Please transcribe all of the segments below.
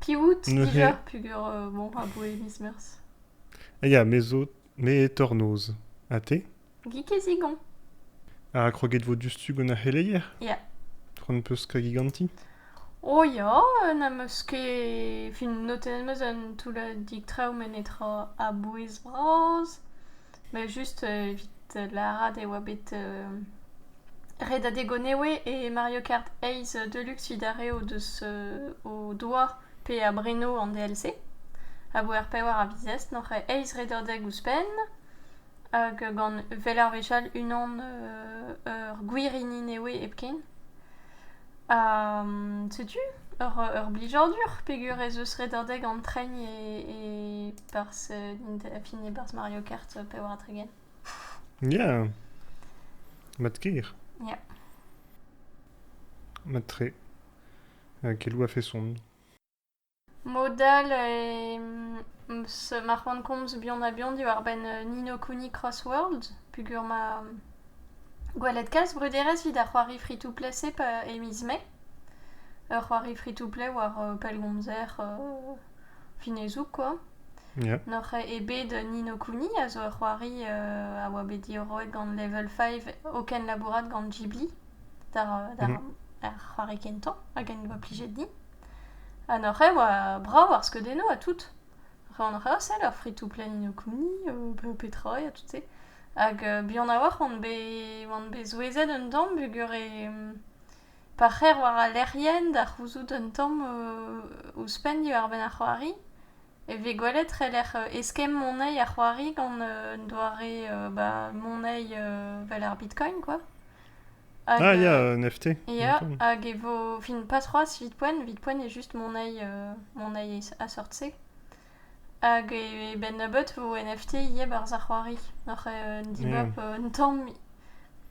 Piv out dija peogwir bon aboe miz Meurzh? Ya, me zo, me eo tornoz. Ha te? Gig e zigon. Ha kroget vo diouzhtu gant ar c'heleier? Ya. C'hoant 'peus kregiñ ganti? O ya, n'am eus ket... fin notenn 'm eus un toullad traoù met netra a-bouez bras. Well just evit lârat e oa bet redadeg o newe e Mario Kart eizh Deluxe evit ar re o deus o doa pe a breno an DLC a vo er pevar a viz n'oc'h eizh redadeg ouzhpenn hag gant well ar wechall unan ur gwirini newe hepken. setu ur blijadur peger ez eus redadeg an tren e barzh a fin e barzh Mario Kart Power-Dragon. Yeah Mat kir. Yeah. Mat tre. Kelou a fait sombre. Mod all ma c'hoant komz bihan-ha-bihan diwar-benn Nino Kuni Crossworld peogwir ma gwelet kalz bruderezh evit ar c'hoari free-to-play-se e miz Mae. Ur c'hoari free-to-play war pellgomzer finezoug kwa. Ya. N'oc'h ket bet Nino Kuni a zo ur c'hoari a oa bet diorroet gant Level Five o kenlabourat gant Ghibli d'ar c'hoari kentañ hag en doa plijet din. Ha n'hoc'h eo brav ar skeudennoù ha tout. Ren hoc'h eo sell ar fritoù-plaenioù kouni pe petra ha tout-se. Hag buan a-walc'h on bet oan bet souezhet un tamm peogwir pa c'her war al lec'hienn da c'houzout un tamm ouzhpenn diwar-benn ar c'hoari e vez gwelet e-lec'h eskemm moneiz ar c'hoari gant un doare ba moneiz 'vel ar bitcoin quoi. Ah, ya, euh, un FT. Ya, hag e vo... Fin pas c'hoazh, vite poen. Vite poen est juste mon œil, euh, mon œil a sortse. Hag e ben nebeut vo NFT ivez barzh ar c'hoari. Oc'h euh, dibab un tamm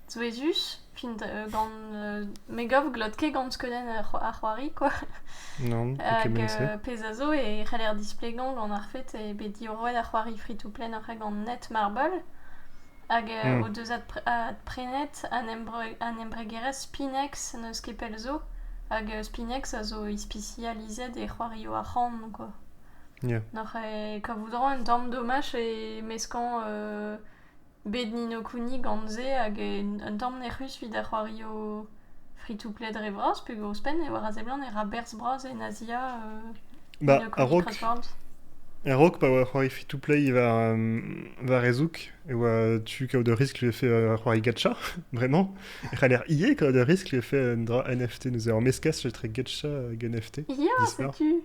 souezhus, fin gant... me gav glot ket gant skeudenn ar c'hoari, quoi. Non, ket Hag euh, pezh a zo e c'heller displegañ gant ar fet e bet diorroet ar c'hoari free-to-play oc'h gant Net Marble. Hag hmm. o deus adprenet an embregerezh Spinex, n'eus ket pell zo. Hag Spinex a zo ispisializet e c'hoarioù arc'hant, quoi. Yeah. Noc'h e kavout un tamm domaj e meskañ uh, bed Nino Kuni gant se hag un tamm nec'hus evit ar c'hoarioù fritoù-pled re vras pegoulz ouzhpenn e oar a seblant e ra berzh bras en Azia Ba, a-raok a-raok pa oa c'hoari free-to-play war, war e zoug e oa tu kaout ur riskl e fait c'hoari gacha vraiment e c'haller ivez kaout ur riskl e fait un dra NFT nous en mescas etre gacha hag NFT ya setu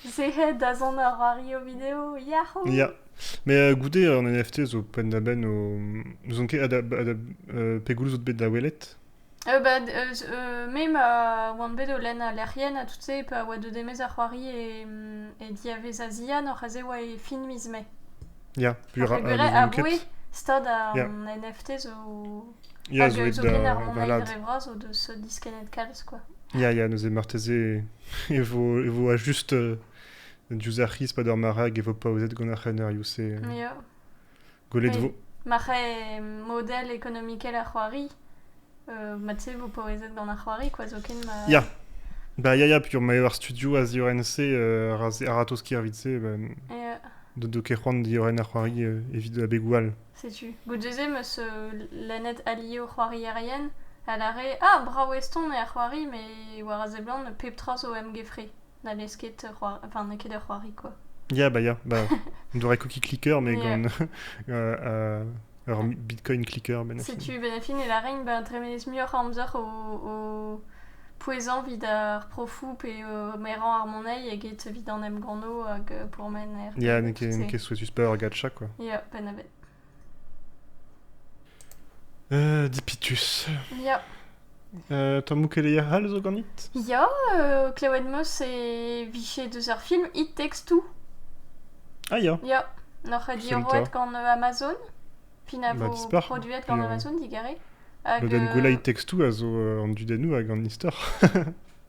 c'est da zont ar c'hoari o video yahoo ya mais euh, goude an NFT zo penn da benn o n'ouzon ket pegoulz out bet da welet Bah eus me ma oan bet o lenn al lec'hienn ha tout-se pa oa deuet e-maez ar c'hoari e e diavez a zihan oc'h aze e oa e fin miz Mae. Ya, puilh ra- n'ouzon ket. stad an NFT zo... Ya zo aet da balad. Dre vras o deus diskennet kalz quoi. Ya ya neuze marteze e vo e vo just diouzh ar c'hiz 'pad ar marc'hag e vo paozet gant ar c'henarioù-se. Ya. Gwelet vo. Ma c'hae model ekonomikel ar c'hoari, euh, ma tu vous paouezet gant ar c'hoari, quoi, zoken ma... Ya, Ba, ya, ya, piur, ma eo ar studio a ziorren-se, euh, a-ratoz ker evit se, ba, Et, euh, do, do ket c'hoant diorren ar c'hoari euh, evit abegoù all. setu. Goudzeze meus euh, lennet ali o c'hoarierien, a lare, ah, brao eston e ar c'hoari, me war a seblant pep tra zo em gefre. Na n'eo ket ur c'hoari... Enfin, n'eo ket ur c'hoari, quoi. Ya, bah ya, bah, on dirait cookie clicker, mais yeah. gant euh, euh, ur bitcoin clicker. Ben Setu ben fin e larain ben tremenez muioc'h amzer o, pouezhañ vid ar profou pe o merañ ar monei eget vid an emganno hag euh, pourmen er... Ya, n'eo ket souetus pas ur gacha, quoi. Ya, ben evet. Euh, Dipitus. Ya. Euh, Tommoù keleier all zo ganit Ya, euh, Klewenmos e vije deus ar film It Takes Two. Ah ya. Ya, n'oc'h a diorroet gant euh, Amazon, fin a bah, vo produet gant euh, Amazon digare. Hag, Le den euh, Gouela It Takes Two a zo euh, an dudennoù hag an istor.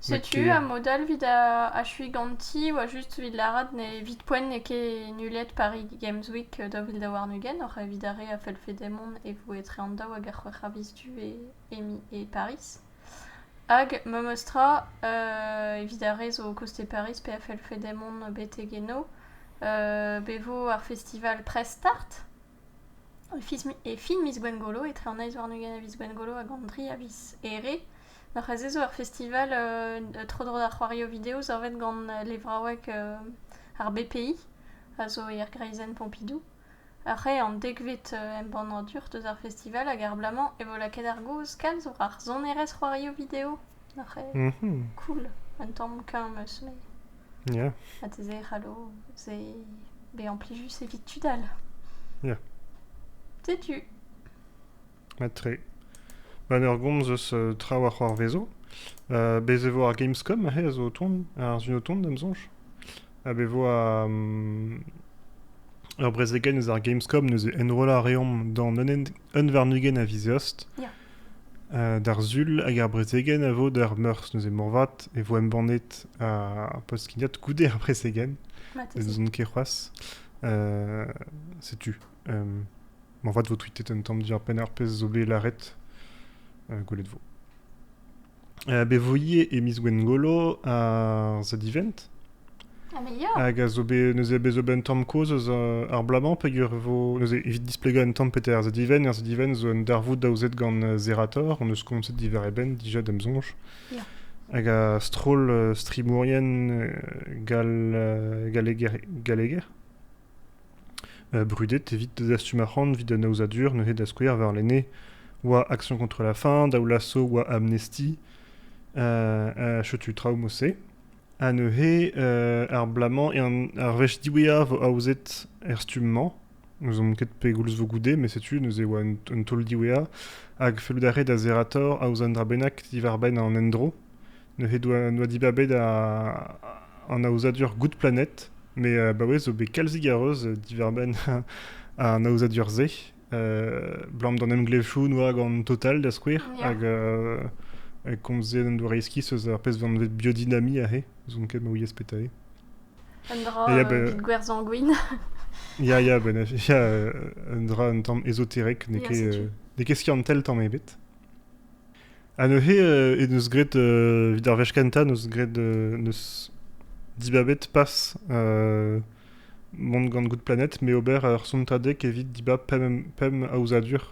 Setu a-mod-all 'vit achuiñ ganti oa just 'vit lâret evit poent n'eo ket nullet Paris Games Week daou vil daou warn-ugent oc'h evit ar re a fellfe demont e vo etre an daou hag ar c'hwec'h a viz du emi e Pariz. Hag memes tra evit ar re zo o koste Pariz pe a fellfe demont betek eno be vo ar festival Press Start. E fin miz Gwengolo, etre an eizh warn-ugent e viz Gwengolo hag an tri a viz Here, oc'h azezo ar festival tro-dro d'ar c'hoarioù video savet gant levraoueg ar BPI, a zo er greizenn Pompidou. Ac'h eo an dekvet embannadur deus ar festival hag ar bloaz-mañ e vo lakaet ar gaoz kalz war ar sonerezh c'hoarioù video. Cool, un tamm keñv 'm eus met... Ya. Ha te se, c'hallo, se... bezañ plijus evit tud all. Ya. Setu. Mat-tre. Ba ur gomz eus traoù a c'hoarvezo. Uh, bez e vo ar Gamescom aze a zo o tont, ar zun o tont d'am soñj. Ha be vo um, ur brezegenn eus ar Gamescom neuze enrollañ a reomp d'an un, un warn-ugent a viz eost. Ya. D'ar sul hag ar brezegenn a vo d'ar meurzh neuze moarvat e vo embannet ar post-skignañ goude ar brezegenn ne ouzon ket c'hoazh setu moarvat vo tweetet un tamm diwar-benn ar pezh zo bet lâret gwelet vo bet voye e miz Gwengolo ar zadivent. Ah, mais ya Hag a zo bet, neuze bet zo bet un tamm kozh eus uh, ar bloaz-mañ peger e vo, neuze evit displegañ un tamm peter ar zadivent. Ar zadivent zo un darvoud daouzet gant uh, Zerator, hon eus komzet divar e benn dija d'em soñj. Ya. Hag a stroll uh, strimourien uh, gal, uh, galeger, galeger. Brudet evit dastum arc'hant evit an aozadur neuze da skouer warlene oa Action contre la faim, Daoulasso oa Amnesty, ha setu traoù mod-se. Ha neuze ar bloaz-mañ ar wech diwezhañ vo aozet er stumm-mañ. N'ouzon ket pegoulz vo goude, met setu neuze oa un taol diwezhañ. Hag fellout a rae da Zerator aozañ un dra bennak diwar-benn an endro. Neuze doa, doa dibabet an aozadur Good Planet, met baouez zo bet kalzik a reuz diwar-benn an aozadur-se. Blam d'an emglevoù noa gant Total, da skouer, hag hag komzet an doare eskis eus ar pezh vanvet biodynamie aze, zoun ket ma ouiez petra eo. Un dra evit gwer sanguin. Ya, ya, ben, ya un dra un tamm ezoterek, n'eo ket skiantel tamm ebet. Ha neuze eh eus graet, evit ar wech kentañ, neus graet neus dibabet pas mont gant Good Planet, me ober ur sontadeg evit dibab pemp, pemp aozadur.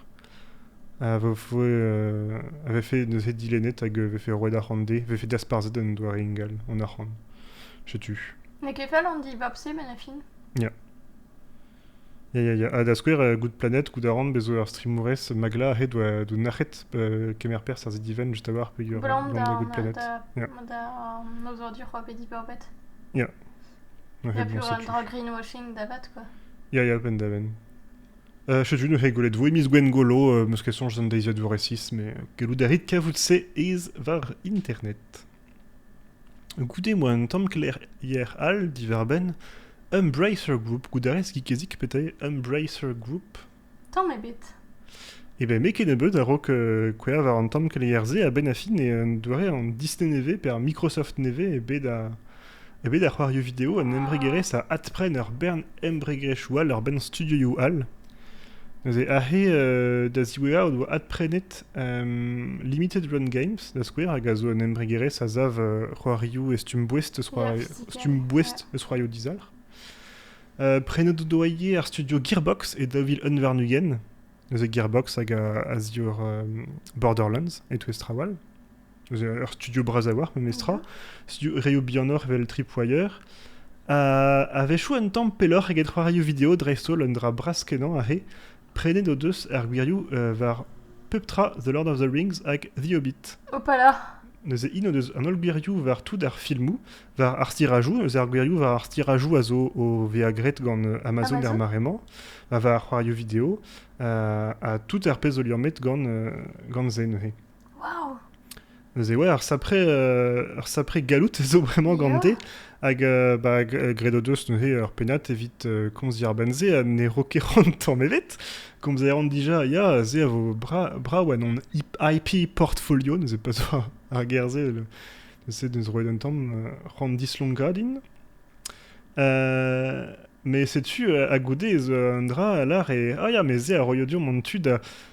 A voe, a vefe neuze dilennet hag vefe roet arc'hant dezhe, vefe dasparzhet un doare ingal, an arc'hant. Setu. N'eo ket fall an dibab-se, met la fin. Ya. Ya, ya, ya. Ha da skouer, euh, Good Planet, Good Around, bezo ur streamourez magla a-hed oa doun nac'het euh, kemer perzh ar zidivenn just a-walc'h peogwir euh, Blam da Good Planet. da, Yeah. da noz dur hor bedi bourbet. Ya. Ouais, Ya bon, plus c'est un plus. drag greenwashing davat quoi. Ya, ya, pen da ben. Euh, Setu neuze gwelet vo emiz Gwengolo, euh, meus question jen deiziad vor resis, mais gellout a rit kavout se ez var internet. Goude m'oa un tamm keleier all diwar-benn Embracer Group goudarez Kikezik pe te Embracer Group Tamm ebet. Eh ben met kennebeut a-raok kouezhañ war an tamm keleier-se a-benn a fin e un doare an Disney nevez pe ar Microsoft nevez eo bet Evit ar c'hoarioù video un embregerezh a adpren ur bern embregerezhioù all war-benn studioioù all. Neuze aze da ziwezhañ o doa adprenet Limited Run Games da skouer hag a zo un embregerezh a sav c'hoarioù e stumm-boest eus c'hoarioù stumm-boest eus c'hoarioù dizalc'h. prenet o doa ivez ar studio Gearbox e daou vil un warn-ugent. Neuze Gearbox hag a zior Borderlands e-touez traoù all. ur studio bras a-walc'h memestra, studio reoù bihanoc'h evel Tripwire. A-wechoù un tamm pelloc'h eget c'hoarioù video dreist-holl, un dra bras-kenañ aze. Prenet o deus ar gwirioù war pep tra The Lord of the Rings hag The Hobbit. Opala! Neuze int o deus an holl gwirioù war tout ar filmoù, war ar stirajoù. Neuze ar gwirioù war ar stirajoù a zo o vezañ graet gant Amazon, er mare-mañ, war ar c'hoarioù video, ha tout ar pezh zo liammet gant, gant se neuze. Neuze ouais, ar sapre, euh, ar sapre gallout zo bremañ gante, hag euh, bah, g- gredo deus neuze ur pennad evit euh, komz ar ben-se ha ne ro ket c'hoant tamm ebet. Komz a ran dija, ya, se a vo bra, brav en hon IP portfolio, neuze pa zo ar ger-se, le- neuze neus roet un tamm euh, c'hoant dislonkañ din. Euh, mais setu, euh, ha goude ez euh, un dra a lar e... Ah ya, mais se a roio deomp an tu da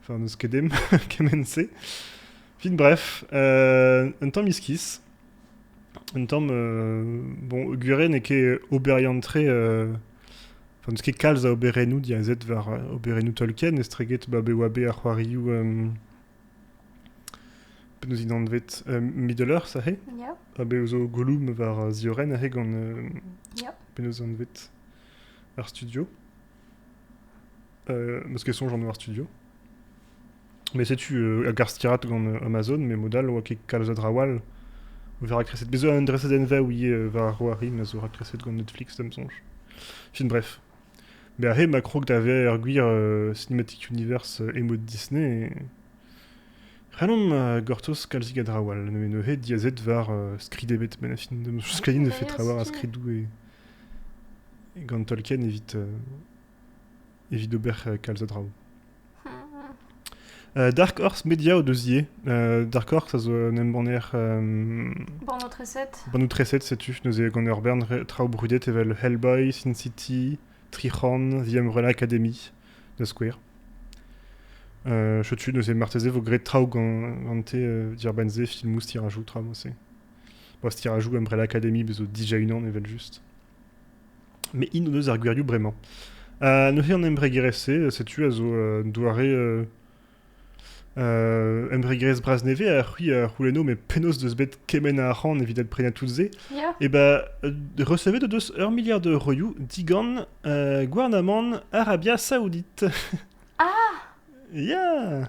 Enfin, n'eus ket dem kement-se. Fin bref, euh, un tamm iskis. Un tamm... euh, bon, Gure n'eo ket oberiant tre... euh, Enfin, n'eus ket kalz a oberennoù diazet war euh, oberennoù Tolkien, estreget ba bewabe ar c'hoarioù... euh, Penaos int anvet euh, Middle-earth aze? Yep, Ha be zo Gollum war uh, Zioren aze gant... euh, yep. Penaos anvet ar studio. Parce qu'elles sont genre noir studio. Mais sais-tu, euh, Garstirat gant Amazon, mais modal, oa ket kalz a drawal. Vera kreset. Bezo un dreset enve oui euh, va roari, ma zo rakreset gant Netflix, da msonch. Fin bref. Mais ahe ma krog d'ave ur gwir euh, cinematic universe euh, emo Disney. Renom ma gortos kalzig a drawal, ne ne he diazet var euh, skridebet benafin. Skrin ne fait travar a skridou et gant Tolkien evit, evit ober kalz a draoù. Euh, Dark Horse Media o deus ivez. Euh, Dark Horse a zo un embanner... Euh, Borno 37. Borno 37, setu, neuze gant ur bern traoù brudet evel Hellboy, Sin City, Trichorn, The Umbrella Academy, da skouer. Euh, Chotu, neuze marteze vo graet traoù gant gante euh, Dirbanze, filmoù, tirajou, traoù, c'est Post-tirajoù Umbrella Academy zo dija unan evel-just. Mais in deus ar gwirioù bremañ. Uh, neuze an embregerezh-se, setu a zo un doare uh, uh, embregerezh bras-nevez a c'hwi a c'houlenno mais penaos deus bet kemenn a arc'hant evit adprenañ tout se yeah. e ba recevet o deus ur milliard d'euroioù digant uh, gouarnamant Arabia Saoudite ah! yeah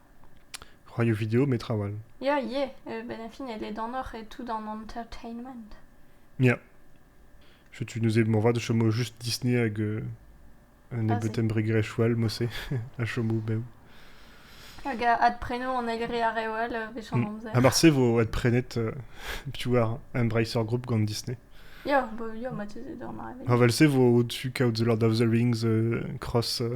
C'hoarioù video met trawal. Ya, yeah, euh, ben fin, e ledanoc'h e tout an entertainment. Ya. Je tu nous m'en va de chomo juste Disney hag euh, un ah, ebetem bregrechoal mosse a chomo bev. Hag a ad preno an egri ar rewal euh, bechan amzer. A marse vo ad prenet euh, piouar Embracer Group gant Disney. Ya, bo ya, ma teze d'an arrêt. Ha val se vo au-dessus Count the Lord of the Rings euh, cross euh,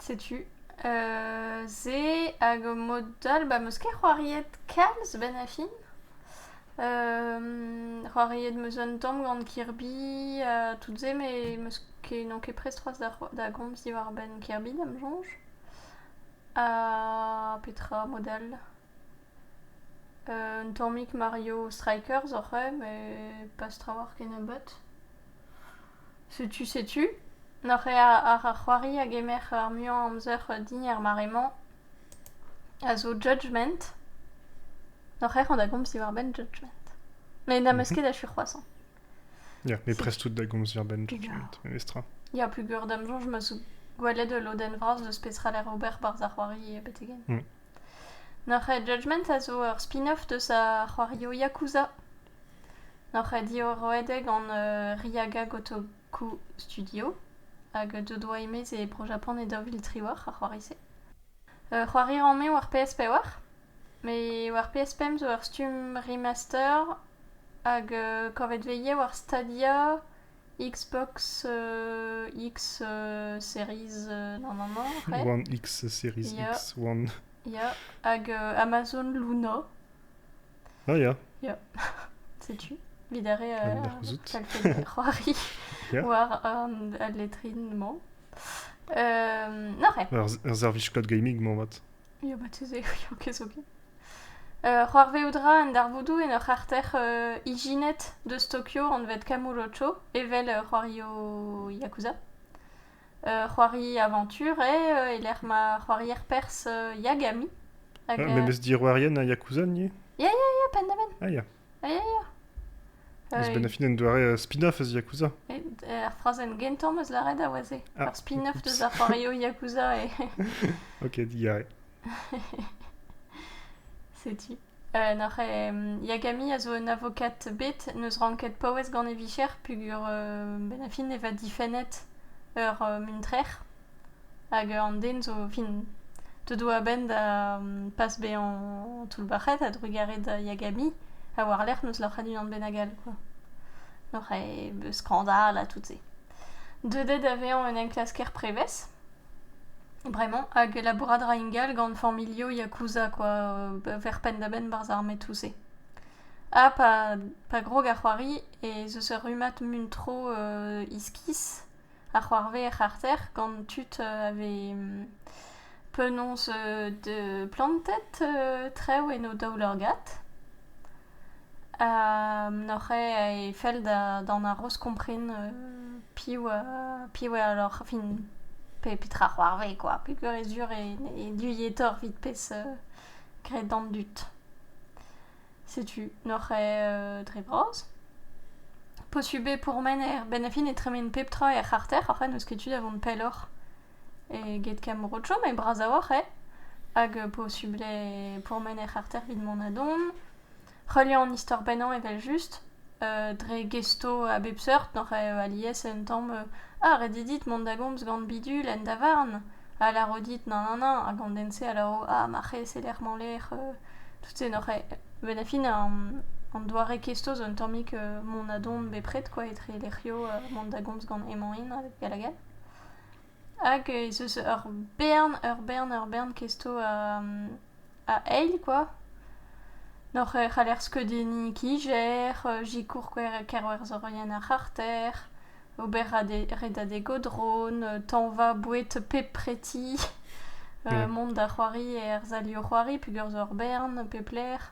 Setu se hag mod all ba 'meus ket c'hoariet kalz 'benn ar fin. c'hoariet 'meus un tamm gant Kirby ha tout se met 'meus ket n'on ket prest c'hoazh da c'ho- da gomz diwar-benn Kirby da'm soñj. Ha petra mod all? un tammig Mario Strikers oc'h eo met pas trawalc'h ken nebeut. Setu, setu, n'oc'h ket àr ar c'hoari a gemer ar muiañ amzer din er mare-mañ, a zo Judgement. N'oc'h ket c'hoant da gomz diwar-benn Judgement. Met n'am eus ket achu c'hoazh hañ. Ya, mais prest out da gomz diwar-benn Judgment, memestra. Ya, peogwir d'am soñj 'm eus gwelet ul lodenn vras deus petra 'lec'h ober barzh ar c'hoari betek-henn. Mm. N'oc'h ket Judgment a zo ur spin-off deus ar c'hoario Yakuza. Hoc'h eo diorroet eo gant Ryaga Gotoku Studio hag deuet oa e-maez e Bro-Japan e daou vil triwec'h ar c'hoari-se. c'hoari rann-me war PS pevar met war PS pemp zo ur stumm remaster hag kavet vez ivez war Stadia, Xbox X Series non non non c'hwec'h. One X Series X, One. Ya hag Amazon Luna. Ah, ya. Ya. Setu, vid ar re euh, talpenn c'hoari yeah. war an al letrin-mañ. Euh, nore. Ur ur servij kod gaming-mañ mat. Ya, bat se, ya, kesokin. Euh, c'hoarvezout ra an darvoudoù en ur c'harter euh, ijinet deus Tokyo anvet Kamurocho, evel euh, c'hoario Yakuza. c'hoari avantur eo e lec'h ma c'hoarier pers Yagami. Hag, ah, memes diorroerien a Yakuza, ni Ya, ya, ya, penn-da-benn. Ah, ya. Ah, ya, ya. Eus benn a fin un doare spin-off eus Yakuza. Ar frazenn gentañ meus lâret a oa se. Ah. Ur spin-off deus ar c'hoarioù Yakuza e... ok, digarez. Setu. Noc'h eo Yagami a zo un avokat bet n'eus ranket paouez gant e vicher peogwir benn-ar-fin e vat difennet ur muntrer hag an den zo fin deuet oa a-benn da pas bezañ toullbac'het a-drugarez da Yagami ha war-lerc'h n'eus loc'het unan bennak all kwa. Noc'h eo skandal ha tout se. Deuet eo da vezañ un enklasker prevez. Bremañ hag labourat 'ra ingal gant familhoù yakuza kwa ver penn-da-benn 'barzh ar metoù-se. Ha pa pa grog ar c'hoari ez eus ur rummad muntro iskis a c'hoarvez er c'harter gant tud a vez penaos plantet trev en o daoulagad. N'oc'h ket e fell d'an haroz kompren piv piv eo lorc'h fin petra c'hoarvez kwa peogwir e sur e duilhetoc'h evit pezh graet d'an dud. Setu n'oc'h ket dre vras. Posubl eo pourmen er benn a fin e tremen pep tra er c'harter oc'h n'eus ket tu da vont pelloc'h. eget kemm rotcho, met bras a-walc'h eo. Hag posubl eo pourmen hec'h arter evit mont a-don. Heuliañ an istor pennañ evel-just. dre gesto a bep seurt n'oc'h alies un tamm ah ret eo dit mont da gomz gant bidul en davarn. A lâro dit nann nann nann hag an den-se a lâro ah ma c'hez e-lec'h ma lec'h. tout se n'oc'h benn ar fin an doare kesto zo un tammig mont a-don bepred quoi etre lec'hioù mont da gomz gant hemañ-int hag hag all. Hag ez eus ur bern, ur bern, ur bern kesto a a eil kwa. N'hoc'h c'haller skeudenniñ kijer, sikour kerwerzherienn ar c'harter, ober redadeg o dron, tañva boued pep preti, mont da c'hoari er sali o c'hoari pegoulz ur bern, pep lec'h.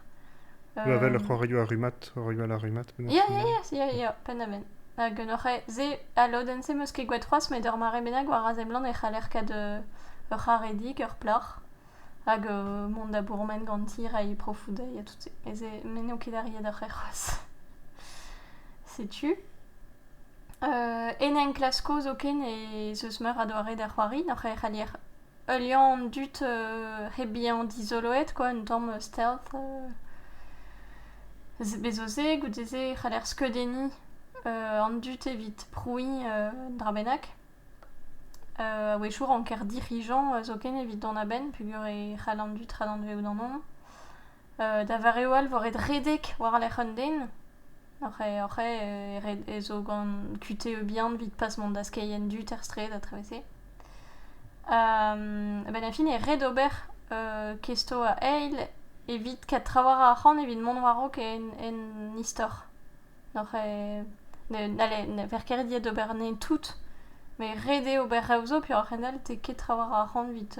Avel c'hoarioù ar rummad, c'hoarioù al ar rummad. Ya, ya, ya, ya, pennamen. Hag un oc'h se, al lodenn-se meus ket gwet c'hoazh, met ur mare bennak war a seblant e c'haller kat uh, ur c'haredig, ur plac'h, hag uh, mont da bourmen ganti, reiñ profoù dezhi ha tout se. E se, me n'eo ket arriet ar c'her c'hoazh. Setu. Uh, en enklasko zoken e zeus meur a doare da c'hoari, noc'h e c'hallier Ul liamm an dud hep bezañ dizoloet kwa, un tamm stealth. Bez' zo se, goude-se e c'haller skeudenniñ an dud evit prouiñ un dra bennak. A-wechoù ranker dirijañ zoken evit dont a-benn peogwir e c'hall an dud radanvezout an anv. Da vareoù all e vo ret redek war-lerc'h un den. Oc'h e zo gant kutev bihan evit pas mont da skeiñ an dud er straed ha etrevese. A-benn ar fin eo ret ober kesto a eil evit kat traoù a ra ar c'han evit mont war-raok en istor. Ne ver ket ret ivez d'ober anezhe tout, met ret eo ober reoù zo, peoc'h a-hend-all ket traoù a ra ar c'han evit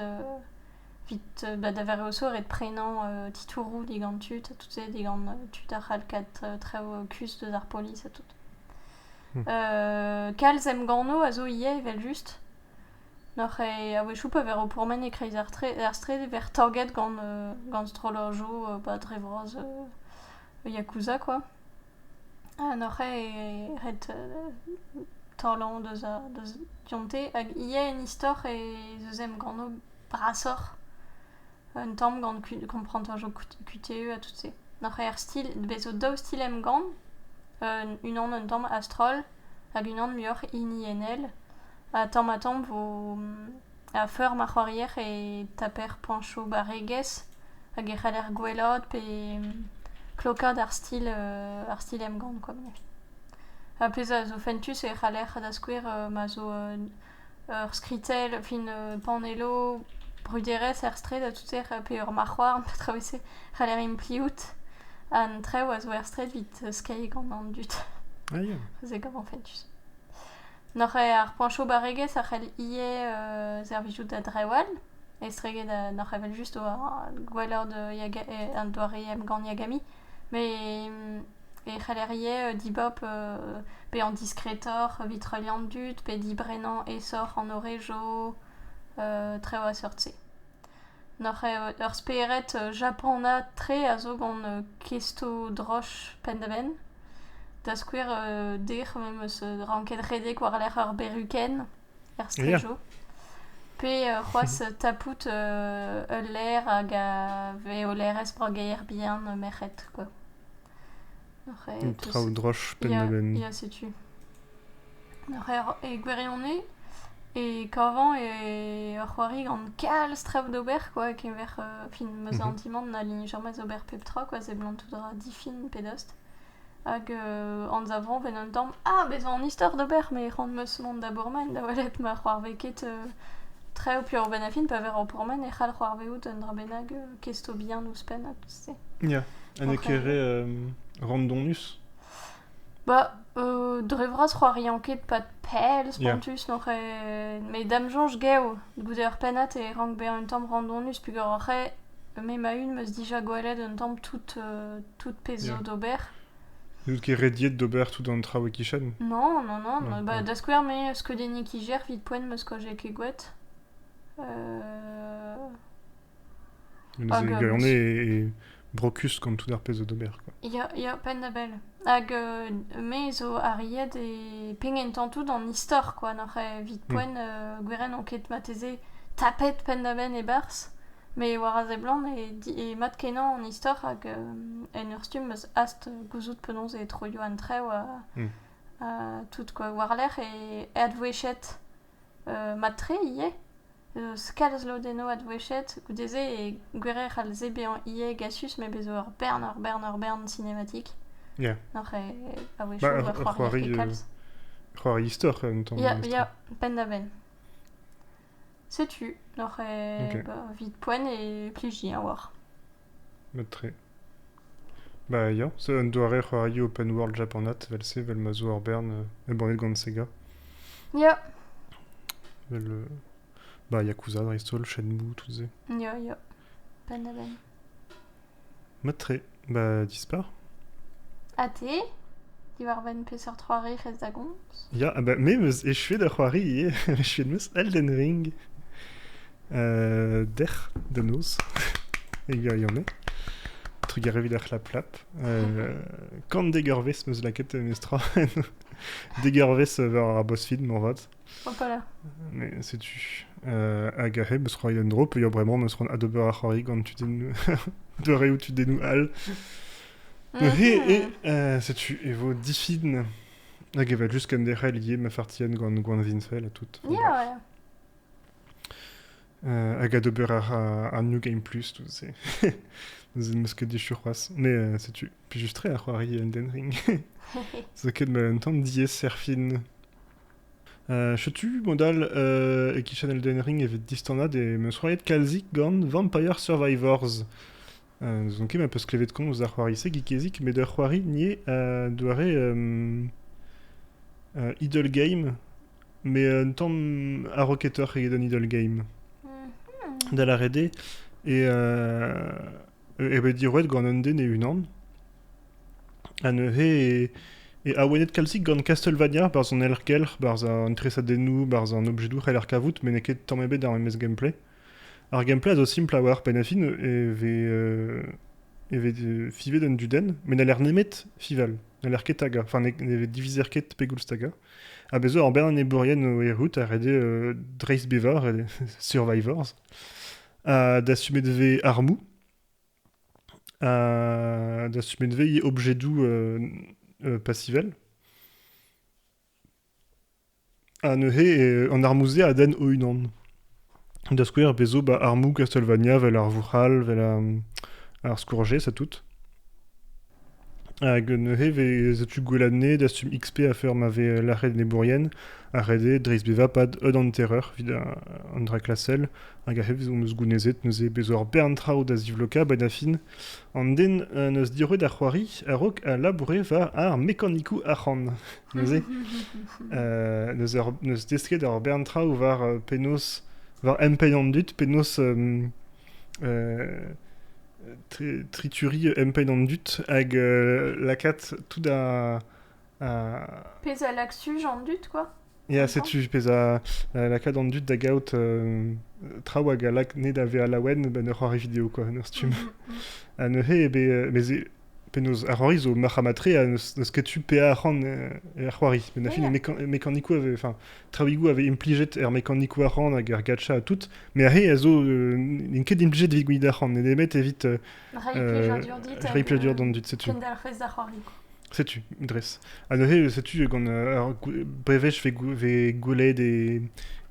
Evit ba da Varraoso ret prenañ titouroù digant tud ha tout se digant tud a c'hall kat traoù kuzh deus ar polis ha tout. kalz emganno a zo ivez evel-just. N'oc'h ket a-wechoù pa vez roet pourmen e-kreiz ar straed e vez torget gant strollajoù ba dre vras Yakuza kwa. Ha n'oc'h ket ret taolañ deus dionte hag ivez en istor ez eus emganno brasoc'h un tamm gant komprenañjoù QTE ha tout se. Noc'h er stil, bez zo daou stil emgann, unan un tamm a-stroll hag unan muioc'h hiniennel ha tamm-ha-tamm vo a feur ma c'hoarier e taper poñchoù barregezh hag e c'haller gwellaat pe klokaat ar stil ar stil emgann koa. Ha pezh a zo fentus e c'haller da skouer ma zo ur skritell, fin panelloù, bruderezh er straed ha tout-se, pe ur marc'houarn, petra 'vez-se, c'haller impliout. An traoù a zo er straed evit skeiñ gant an dud. Ah ya. Se gavan fentus. Noc'h eo ar poañchoù-barregezh a c'hell ivez servijout da drewal, estreget noc'h evel-just gwelloc'h da doare emgann Yagami. e c'heller ivez dibab bezañ diskretoc'h evit heuliañ an dud pe dibrennañ aesoc'h an horejo traoù a-seurt-se. Ur spered japanat-tre a zo gant kesto-droch penn-da-benn, da skouer dec'h me'm eus ranket redek war-lerc'h ur berukenn. er strejo, pe c'hoazh tapout ul laer hag a vez olerezh brageier bihan merc'hed quoi. Traoù droch penn-da-benn. Ya, setu. E gwirionez, e kavan e ur c'hoari gant kalz traoù d'ober quoi, kemer fin ma sentimanт na lignez jamais ober pep tra quoi, seblant tout ra difin pe dost. Hag anzavomp en un tamm ah bezañ an istor d'ober me c'hoant 'meus mont da bourmen da welet ma c'hoarvez ket traoù piv benn ar fin pa vez ur bourmen e c'hall c'hoarvezout un dra bennak kestobihan ouzhpenn ha tout se. Ya, ha n'eo ket re randonus? Bah dre vras c'hoariañ ket pad pell spontus n'oc'h ket... met da'm soñj gav goude ur pennad e rank bezañ un tamm randonus peogwir oc'h eo me ma-un 'meus dija gwelet un tamm tout tout pezh zo d'ober. N'out ket rediet d'ober tout an traoù e-kichen Non, non, non. Non, bah, Da skouer, me, skeudenniñ kijer, vit poent, ma skoaje ket gwet. Euh, Hag, euh, on est et brocus gant tout ar pezh zo d'ober. quoi. Ya, ya, penn da bell. Hag euh, me zo arriet e pengentañ tout an istor, quoi. Noc'h eh, vit poent, euh, gweren on ket mateze tapet penn da benn e-barzh. Met war a seblant eo mat-kenañ an istor hag en ur stumm eus hast gouzout penaos e troio an traoù tout quoi war-lerc'h e advouezhiet mat-tre ivez eus kalz lodennoù advouezhiet goude-se e gwirier e c'hall se bezañ ivez gasus met bez zo ur bern ur bern ur bern sinematik n'oc'h a c'hoari istor en ton ya penn-da-benn Setu, n'oc'h eo ba evit poent e plijiñ a-walc'h. Mat-tre. Bah ya, c'est un doare c'hoario open world japanat, vel-se, vel ma zo ur bern euh, embannet gant Sega. Ya. Vel euh, bah yakuza dreist-holl, Shenmue, tout-se. Ya, ya. Penn-ha-benn. Mat-tre, ba dispar. Ha te diwar-benn peseurt c'hoari rez da gomz? Ya, bah, me 'meus echuet ur c'hoari ivez. echuet 'meus Elden Ring euh, dec'h da noz, e gwirionez. Trugar evit ar c'hlaplap. Euh, Kan degurvezh 'meus lakaet meus tra. degurvezh war ar BuzzFeed, moarvat. Setu. Euh, hag a heb eus c'hoari un dro, peuiañ bremañ neus c'hoant adober ar c'hoari gant tudennoù doareoù tudennoù all. Neuze, e, euh, setu, e vo difin hag e va just kenderc'hel ivez ma fartien gant gwan Vinsel ha tout. Yeah, ouais. Euh, hag adober ar, ar New Game Plus, tout ça. Nous n'eus que déchu c'hoaz. Mais euh, setu. Puis juste très à c'hoari Elden Ring. Ça ket mal un temps diez serfin Setu, mod-all, e-kichen Elden Ring e vez distanat e 'm eus c'hoariet kalzik gant Vampire Survivors. N'ouzon ket ma peus klevet komz d'ar c'hoari-se, Geekezik, met ur c'hoari nie doare Idle Game, mais un tamm a-rocketoc'h eget un Idle Game. Da lâret eo. Et eo bet diroet gant un den e-unan ha neuze e awenet kalzik gant Castlevania barzh an helc'hgelc'h, barzh an tresadennoù, barzh an objedoù c'heller kavout met n'eo ket tamm ebet ar memes gameplay. Ar gameplay a zo simpl a oar pennafi e vez, euh, e vez euh, fivet un dudenn met n'a l'air nemet fival, n'a l'air ket taga, enfin ne, ne divizer ket pegoulz taga. Ha bez zo ur bern enebourien o errout a rede euh, dreistbevañ, survivors, Dastumet e vez armoù. dastumet e vez objedoù pasivel. Ha neuze, an armoù-se a denn o-unan. Da skouer, bez' zo ba armoù Castlevania 'vel ar Vouc'hal, 'vel ar Scourge, ça tout. Hag neuze e setu Gweladne dastum XP afer ma vez lâret enebourien, ha ret eo dreistbevañ pad un hanterer evit an dra klasel, hag aze on eus gounezet neuze bezañ ur bern traoù da zivlokañ a-benn ar fin. An den en deus diroet ar c'hoari a-raok a laboure war ar mekanikoù arc'hant neuze. Neus desket ur bern traoù war penaos... war empenn an dud, penaos... trituri empain an dud hag lakaat tout a... Pezh a lak suj an dud, quoi. Ya, setu pezh a lakaat an dud da gaout traoù hag a lak ne da vezañ laouen 'n ur c'hoari video, quoi, en ur stumm. Mm-hmm, mm-hmm. Ha neuze eo bet... Penaos, ar c'hoari zo marc'h ha matre ha n'eus ket tu pe arc'hant er c'hoari. Met na fin, e mekanikoù, ave, enfin, traoùigoù a vez implijet er mekanikoù arc'hant hag er gacha ha tout. Mais ar re a zo n'int ket implijet evit gouiet arc'hant, ne nemet evit... Reiñ plijadur d'an dud, setu. Kendelc'hus ar c'hoari. Setu, dres. Ha neuze, setu, gant ar brevech vez goulet e,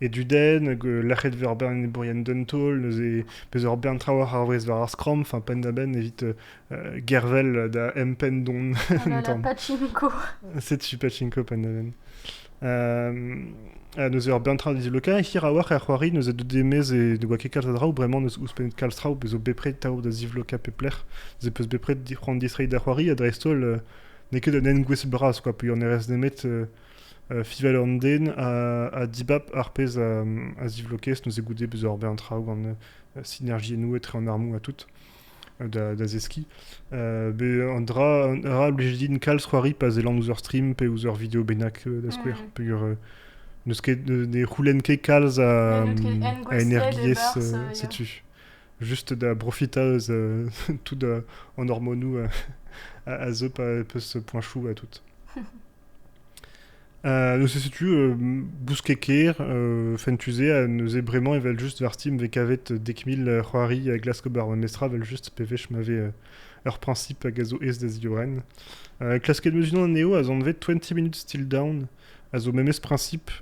e dudenn, lac'het vez ur bern ebourien d'un taol, neuze, pezh ur bern traoù ar vrez war ar skramm, enfin, penn-da-benn evit gervel da empendon. Oh là là, pachinko. Setu pachinko pandaven. Uh, neuze ur bern tra dizloka, hir a-walc'h er c'hoari, neuze dut demez e ne oa ket kalz a draoù, bremañ neus ouzhpennet kalz traoù, bezo bepred taoù da zivloka pep lec'h, neuze peus bepred c'hoant distreiñ da c'hoari, ha dreist-holl uh, n'eo ket un engouestl bras, quoi, puilh an erez nemet uh, uh, fival an den ha, ha dibab ar pezh a, a zivlokez, neuze goude bezo ur bern traoù gant uh, sinergiennoù etre an armoù ha tout. da, da zeskiñ. be un dra, un dra a blij din kalz c'hoari pa zellan ouzh ur stream pe ouzh ur video bennak da skouer. Mm. Peger n'eus ket, ne c'houlenn ket kalz a, a energiezh euh, setu. Juste da profiter eus euh, tout euh, an hormonoù a, a, a, zeu pa peus ce point chou à tout. Neuze setu Bouskekêr, Fentuzé, neuze bremañ evel-just varti m'vez kavet dek mil c'hoari a glask ober memes tra evel-just pevech ma vez ur priñsip hag a zo aes da ziorren. Klasket 'm eus unan anezho a zo anvet Twenty Minutes Till Dawn, a zo memes priñsip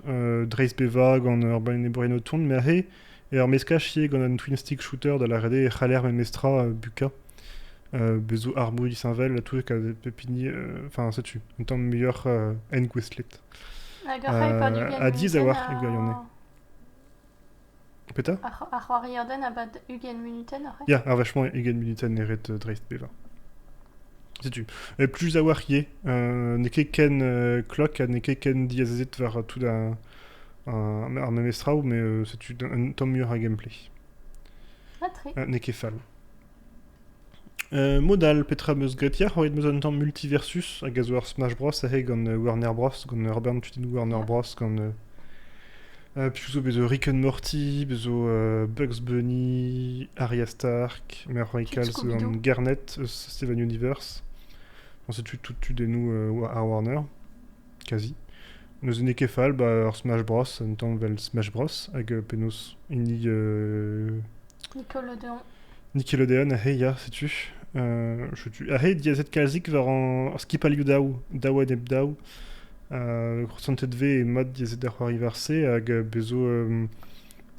dreist bevañ gant ur banerenn o tont, me aze Ur meskaj ivez gant un twin-stick shooter da lâret eo e c'haller memestra bukañ. Bez zo armoù disheñvel toutek a pep hini. Enfin, setu un tamm muioc'h engouestlet. Hag ar c'hai pad ugent Ha diaes a-walc'h e gwirionez. Petra? Ar c'hoarierden a bad ugent munutenn oc'h Ya, ar vachement ugent munutenn e ret dreist bevañ. Setu. Et plus a-walc'h ivez, n'eo ket ken klok ha n'eo ket ken diazezet war tout ar memes traoù, mais c'est un tom muioc'h a gameplay. Ah, très. N'eo ket fall. modal, petra meus graet yac'h oet meus un tamm multiversus hag a zo ar Smash Bros. ahe gant Warner Bros. gant Herbert tudennoù Warner Bros. gant euh, Puisque zo bezo Rick and Morty, bezo euh, Bugs Bunny, Arya Stark, Mère Raycal, gant Garnet, euh, Steven Universe. c'est tu tout tu des nous euh, à Warner. kazi. N'eus hini ket fall 'ba ur Smash Bros. un tamm 'vel Smash Bros. hag euh, penaos hini euh, Nickelodeon. Nickelodeon, hey ya, setu. Euh, setu. Ah hey, diazet kalzik war an skipailhoù daou, daou enep daou. Euh, crosantet 've e mat diazet da c'hoari war se hag euh, bezo euh,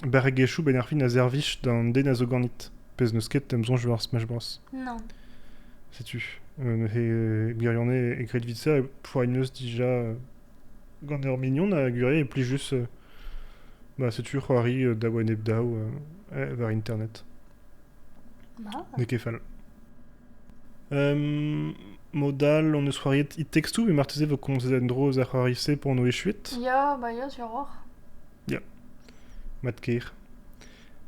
Barregezhioù benn ar fin a servij d'an den a zo ganit. Pezh n'eus ket em soñj war Smash Bros. Non. Setu. Euh, he gwirionez e gred evit ça, e poagneus dija euh, gant ur mignon a gwirier e plij juste euh, bah, setu c'hoari euh, daou enep daou euh, eh, war internet. Bah. N'eo ket fall. Um, Modal, on eus c'hoariet It Takes Two, mais marteze vo komzet en-dro eus ar c'hoari-se pour no echuit. Ya, bah ya, sur oc'h. Ya. Mat-kaer.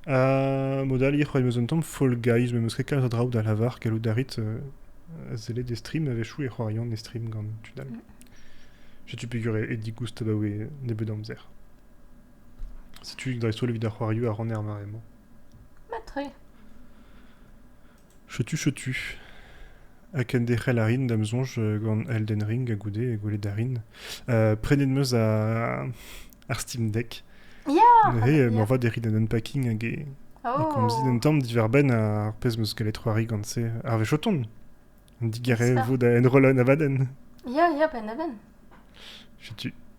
Ha mod all, c'hoant meus un tamm Fall Guys, me meus ket kalz a draoù da lavar, gallout a rit euh, sellet e stream, a wechoù e c'hoarian e stream gant tud all. Mm. Setu peger e, e digoust abaoe nebeut amzer. Setu dreist-holl evit ar c'hoarioù a ran er mare-mañ. Mat-tre. Setu setu. Ha kenderc'hel a rin, da'm soñj, gant Elden Ring ha goude gwelet a rin. Euh, prenet 'm eus ar ar Steam Deck. Ya! Neuze euh, moarvat e rit un unpacking hag e, e komzin un tamm diwar-benn ar pezh 'm eus gallet c'hoari gant-se. Harvey Choton. Digarez e vo da enrollañ Navaden. Ya, ya, ben Naven. Setu.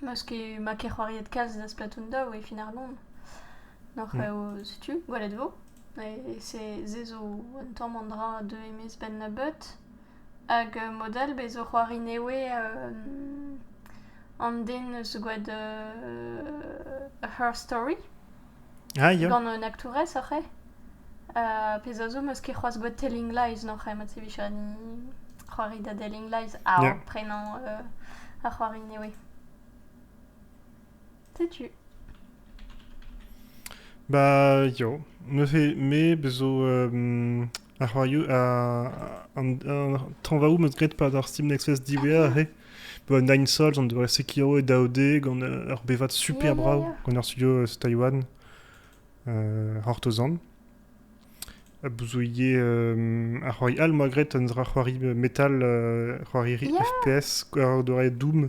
Meus ket, ma ket c'hoariet kalz da Splatoon daou e fin ar Lon. Noc'h eo setu, gwelet vo. Se se zo un tamm an dra deuet e-maez 'benn nebeut. Hag mod all bez' zo c'hoari nevez an den 'neus gwad Her Story. Gant un aktourez oc'h eo? pezh a zo, 'm eus ket c'hoazh boued Telling Lies noc'h eo, mat e vijani c'hoari da Telling Lies a-raok prenañ ar c'hoari nevez. Setu. Ba, yo. Neuze, me 'zo... Ar c'hoarioù, an tañvaoù 'm eus graet 'pad ar Steam Nexus diwezhañ aze. Un Nine Souls en doa Sekiro e daou D gant ur bevad super brav gant ar studio Taiwan, Hortozan. Bouzouyé, ar c'hoari all 'moa graet, un dra c'hoari metal, c'hoari FPS, c'hoari Doom.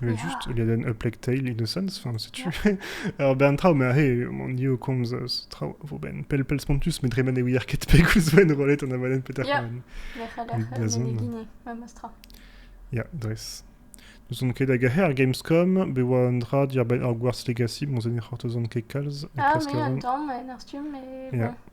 Evel-just, ledenn A Plague Tale Innocence, enfin setu ur bern traoù, ma he, on ni o komz eus traoù a vo ben pell pell spontus, met dre ma ne ouier ket pegoulz vo enrollet an avalenn peter Ya. Pan. Da zont. Memes tra. Ya, dres. N'ouzon ket hag ar Gamescom, be oa un dra diar ur Hogwarts Legacy, bon, se ne c'hortozan ket kalz. Ah, mais attends, en a stumm, mais bon. Yeah.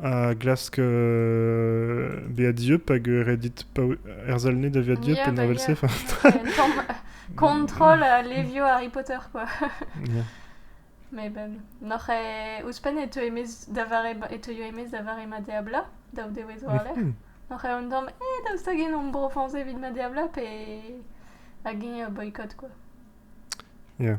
a glask bezañ dieub hag ret dit erzhal-ne da vezañ dieub penn evel-se. Kontrol levioù Harry Potter, quoi. Mais ben, noc'h e... Ouzhpenn e teu emez da vare... e teuio emez da vare ma deabla, daou dewezh war lerc'h. Noc'h eo un tamm, eh, daoust hag en omp bro-Frañs evit ma deabla, pe... hag eñ a boycott, quoi. Yeah.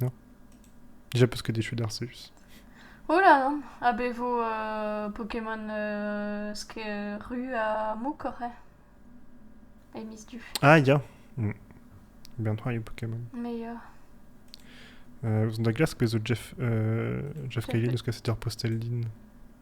Non Déjà parce que t'es chou d'Arceus. Ola, a be vo euh, Pokémon euh, ru a moukor, eh E miz du. Ah, ya. Mm. Bientôt, il y a Pokémon. Mais ya. Euh, on da glask pezo Jeff, euh, Jeff Cayley, deus kaset ar Posteldin.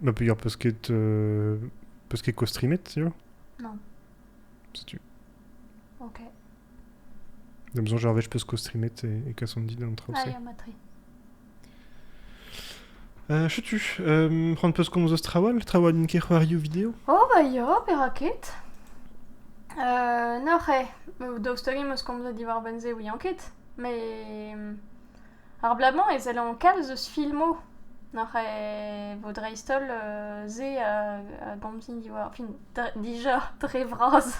Ma peger peus ket, euh, peus ket kostrimet, tu vois Non. Setu. Ok. J'ai besoin Gervais, je peux se costrimer et, et Cassandide en traocé. Allez, à Matri. Euh, je tue. Euh, prendre peus comme trawal, trawal in kerc'hoario video. Oh, bah ya, peraket. Euh, nor eo, daoust hag eus komzet diwar benze ouian ket, mais... Ar bloaz-mañ e sellañ kalz eus filmoù oc'h e vo dreist-holl se a gomzin diwar fin dija dre vras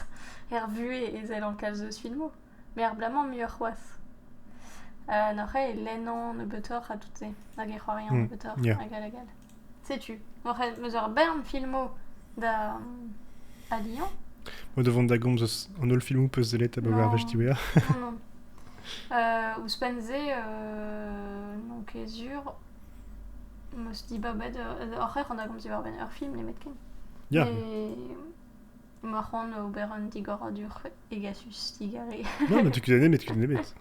er vuhez e sellañ kalz eus filmoù met ar bloaz-mañ muioc'h c'hoazh. N'oc'h e lennañ nebeutoc'h ha tout se hag e c'hoariañ nebeutoc'h hag all hag all. Setu, oc'h eus ur bern filmoù da a Lyon. Mo da vont da gomz eus an holl filmoù peus sellet abaoe ar wech diwezhañ. non, euh, Ouzhpenn-se, euh, n'on ket sur. M'eus dibabet, oc'h ec'h an da gomz diwar-benn ur film nemetken. Yeah. Mais Emañ c'hoant ober un digoradur hegasus digare. non, mais tu connais nemet, tu connais nemet.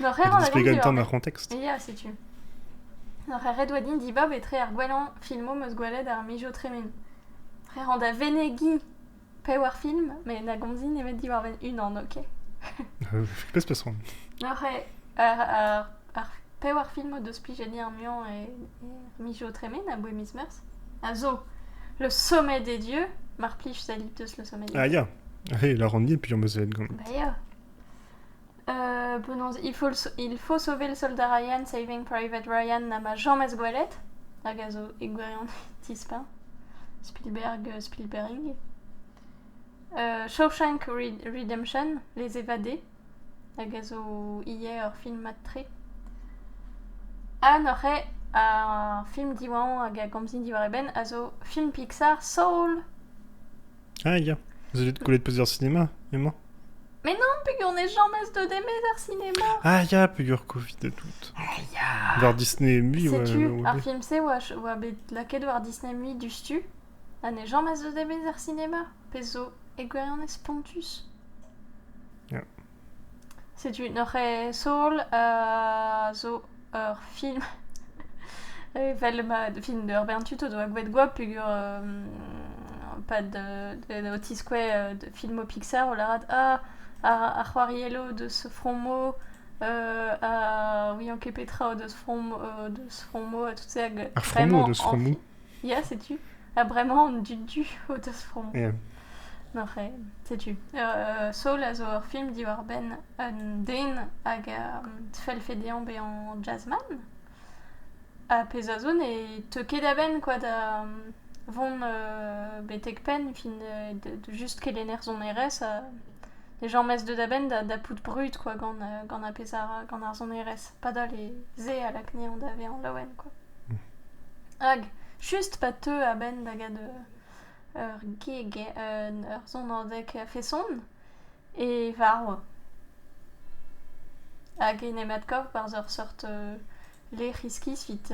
Nor ret Explique en temps ar contexte. Ya, setu. Nor ret oa din dibab etre ar gwellañ filmoù meus gwelet ar mijo tremen. Ret an da venegi pe war film, met na gomzi nemet diwar unan, ok? Pes peson. Nor ret ar Ar pevar film o deus plijet ar muiañ er miz zo tremen aboe miz Meurzh a zo Le Sommet des Dieux, mar plij sellit deus Le Sommet des Dieux. Ah ya, eh, la rant dit puis on sellit gant. Bah ya. Euh, penaos, il faut, il faut sauver le soldat Ryan, Saving Private Ryan n'a ma jamais gwelet, hag a zo e gwirion tispa. Spielberg, euh, Spielberg. Euh, Shawshank Redemption, Les Évadés, hag a zo ivez ur film mat-tre. Ha neuze ar film diwañ hag a gomzin diwar e benn a zo film Pixar Soul! Ah ya, vous allez te coller de plusieurs cinémas, emañ? Mais non, pegur n'ez jamez deut emet ar cinéma! Ah ya, pegur covid et tout. Ah ya! War Disney et Movie, ouais, Setu ouais, ar ouais. film-se oa ch- oa bet lakaet war Disney Movie diouzhtu. Ha ne jamas eus emez ar sinema, pezh zo, e gwirionez spontus. Ya. Setu n'oc'h ket Soul a zo ur film evel ma film ur bern tud o doa gwelet goap peogwir pad o tiskouez de filmoù Pixar o lâret ah ar c'hoariello deus fromo a ouian ket petra deus fromo deus fromo ha tout se hag vraiment... Ar fromo deus fromo? Ya, setu. Ah, bremañ on du-du o teus fromm. Yeah. Non, c'hé, setu. Euh, Soul a zo ur film diwar-benn un den hag a fell fedeañ bezañ jazzman. Ha pezh a zo ne teu ket a-benn quoi da vont euh, betek penn fin euh, de, de just kelenner sonerezh. euh, les gens mettent deuet a-benn da, da pout brud quoi gant, euh, gant ar pezh ar, gant ar sonerezh. Padal e ze a lakne on davez an laouen quoi. Hag just pa teu a-benn da gad ur gig, ur sonadeg a-feson e varv. Hag en em adkav barzh ur seurt lec'h iskis evit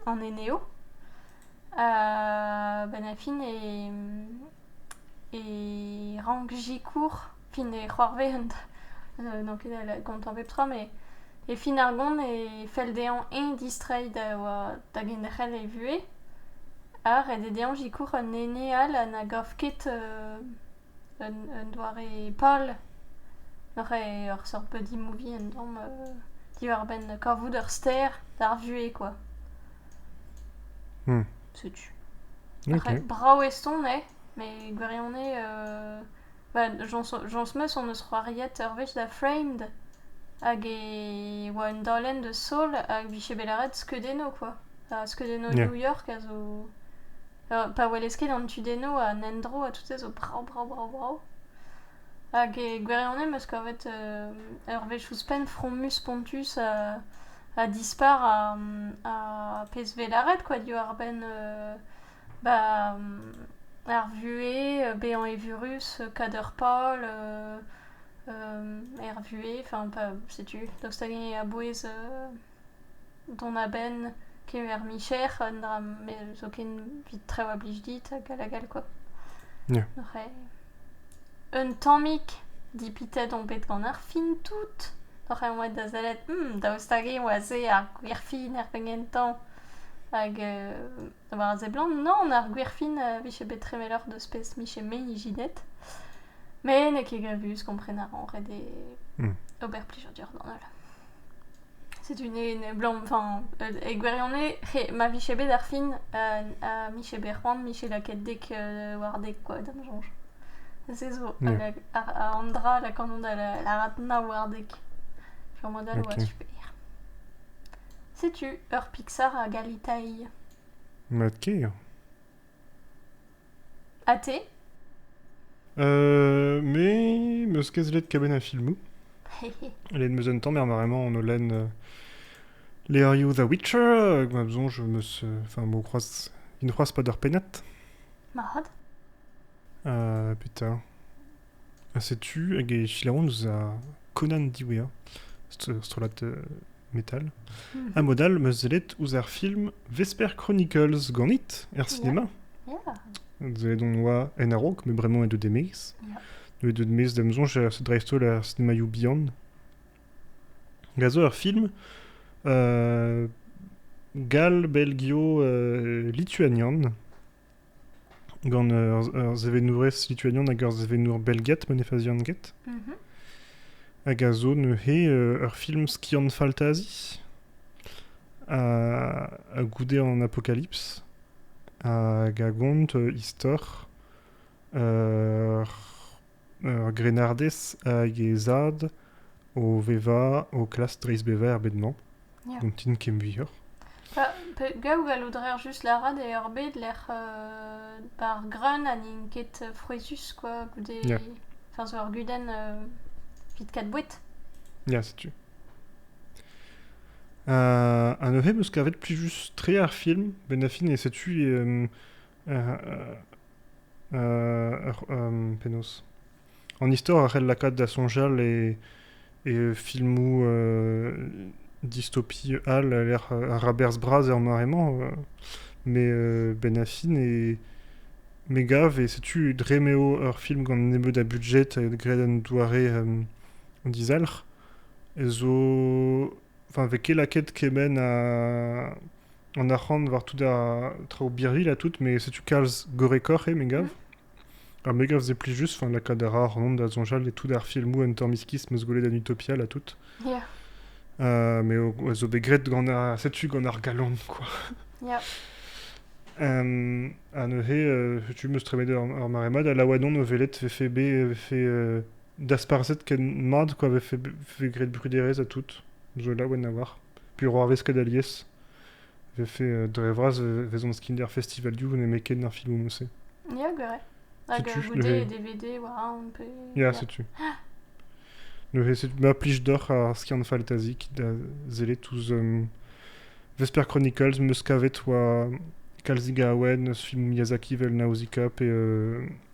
an eneoù. A-benn ar fin e rank sikour fin e c'hoarvezent n'on ket gont pep tra met e fin ar gont e fell dezhañ eñ distreiñ da da genderc'hel e vuhez ha ret eo dezhañ sikour un ene all ha na gav ket un doare pal ur seurt buddy movie un tamm diwar-benn kavout ur ster d'ar vuhez quoi. Setu. Brav eston eo met gwirionez Jañs-meus hon eus c'hoariet ur wech da Framed hag e oa un daolenn deus Saul hag 'vije bet lâret skeudennoù kwa, skeudennoù New York a zo pa welez ket an tudennoù an endro ha tout se zo brav brav brav brav hag e gwirionez 'meus kavet ur wech ouzhpenn fromus spontus ha dispar ar pezh 'vez lâret kwa diwar-benn Ba ar vuhez, bezañ evurus, kader pal er vuhez, enfin pa setu daoust hag-eñ a-bouez dont a-benn kemer micher un dra met zoken evit traoù a blij dit hag all hag all quoi. Ya. C'hweh. Un tammig dipitet on bet gant ar fin tout, oc'h an oad da sellet daoust hag-eñ oa se ar gwir fin er penn gentañ hag Da bar a seblant, non, ar gwerfin euh, vije bet tremeloc'h deus pezh miche me ijinet. Mais n'eo ket gavus kompren a ran ret e Hmm. ober plijadur d'an holl. Setu ne, ne blam, enfin, euh, e gwirionez, he, ma vije bet ar fin euh, ha miche bet c'hoant, miche lakaet dek euh, war dek quoi d'am sonj. Se zo, Yeah. hag a, a, an dra la kanon da la, la rat na war dek. Fur mod all Ok. oa super. Setu ur Pixar a galitailh. Mat ker. Ha te Euh, mais meus ket zlet kaben a filmoù. Let meus un tamm er maremañ on olen euh, Les Are You the Witcher hag ma besoin je me se... enfin m'o croise il ne croise pas d'heure pennat. Mahad. Euh, putain. Ha setu hag e selaouont eus ar Conan diwezhañ, strollad metal. Hmm. Ha mod all 'm eus sellet ouzh ar film Vesper Chronicles ganit er sinema. Yeah. Sellet on oa en a-raok, mais vraiment e deu d'e maez. Yeah. Deuet deuet maez d'am soñj dreist-holl er sinemaioù bihan. Hag a zo ur film uh, gall-belgio uh, lituanian gant ur sevenourez lituanian hag ur sevenour belgiat ma ne fazian ket. Mhm. Hag a zo neuze euh, ur film skiant faltazi a, a goude an apocalypse hag a gont euh, istor ur Ur grennardez hag he zad o vevañ o klask dreistbevañ er bed-mañ. Ya. N'on tin ken muioc'h. Pa, pe, gaou gallout a reer just lâret eo ar bed lec'h euh, ar greun ha n'int ket euh, frouezhus quoi goude... Ya. Enfin zo ur gudenn euh, evit kat boued. Ya, setu. Ha, ha neuze 'm eus kavet plijus-tre ar film. Ben-Affin, et setu euh, Penaos An istor a c'hell lakaat da soñjal e, e filmoù distopie all a lec'h ar raberzh bras er mare-mañ. Mais Ben Affleck e, me gav, et setu dre m'eo ur film gant nebeut a budget, graet en doare dizalc'h, zo Enfin, vez ket lakaet kement an arc'hant war tout ar traoù birvilh ha tout, met setu kalz gorrekoc'h eo, me gav. Ha me gav se plijus, enfin, lakaat a ra ar Ronan da soñjal e tout ar filmoù un tamm iskis 'm eus gwelet en Utopia ha tout. Yeah. Euh, mais a zo bet graet gant ar, setu gant ar galon, quoi. Yeah. Euh, ha neuze, euh, tu m'eus tremet ar, ar mare mat, ha Lawadon o velet vefe bet vefe, euh, dasparzhet ken mat kwa vefe graet bruderezh ha tout zo laouen a oar puro arvest ket alies vefe dre vras vezont skinder festival du nemetken ar filmoù-se ya gwir hag goude dvd war pe ya setu neuze ma plij deoc'h ar skiant fantasik da sellet ouzh Vesper Chronicles meus kavet oa kalzik a awen eus film Miyazaki vel Nausicaa pe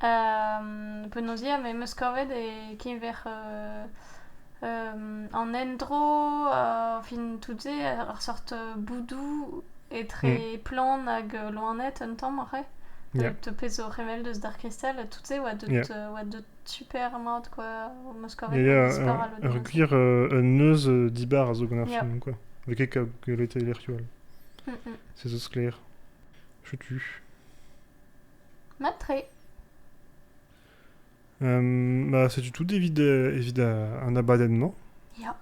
Penaos ya, me 'm eus kavet e-keñver an endro, fin tout-se, ur seurt boudoù etre plant hag loened un tamm ivez. Deuet pezh zo revel deus Dark Crystal ha tout-se 'oa deut super mat quoi, am eus kavet istor all ur gwir un neuz dibar a zo gant ar film quoi, n'eo ket gwelet e lec'hioù all. Se zo sklaer. Chutu. Mat-tre. Ma setu tout evit, evit an abadenn-mañ. Ya.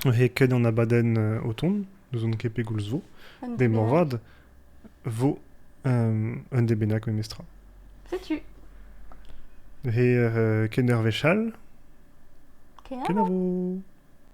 He ket an abadenn o tont, n'ouzon ket pegoulz vo. Be moarvat vo un den bennak memestra. Setu. He kenderv echal. Kenavo.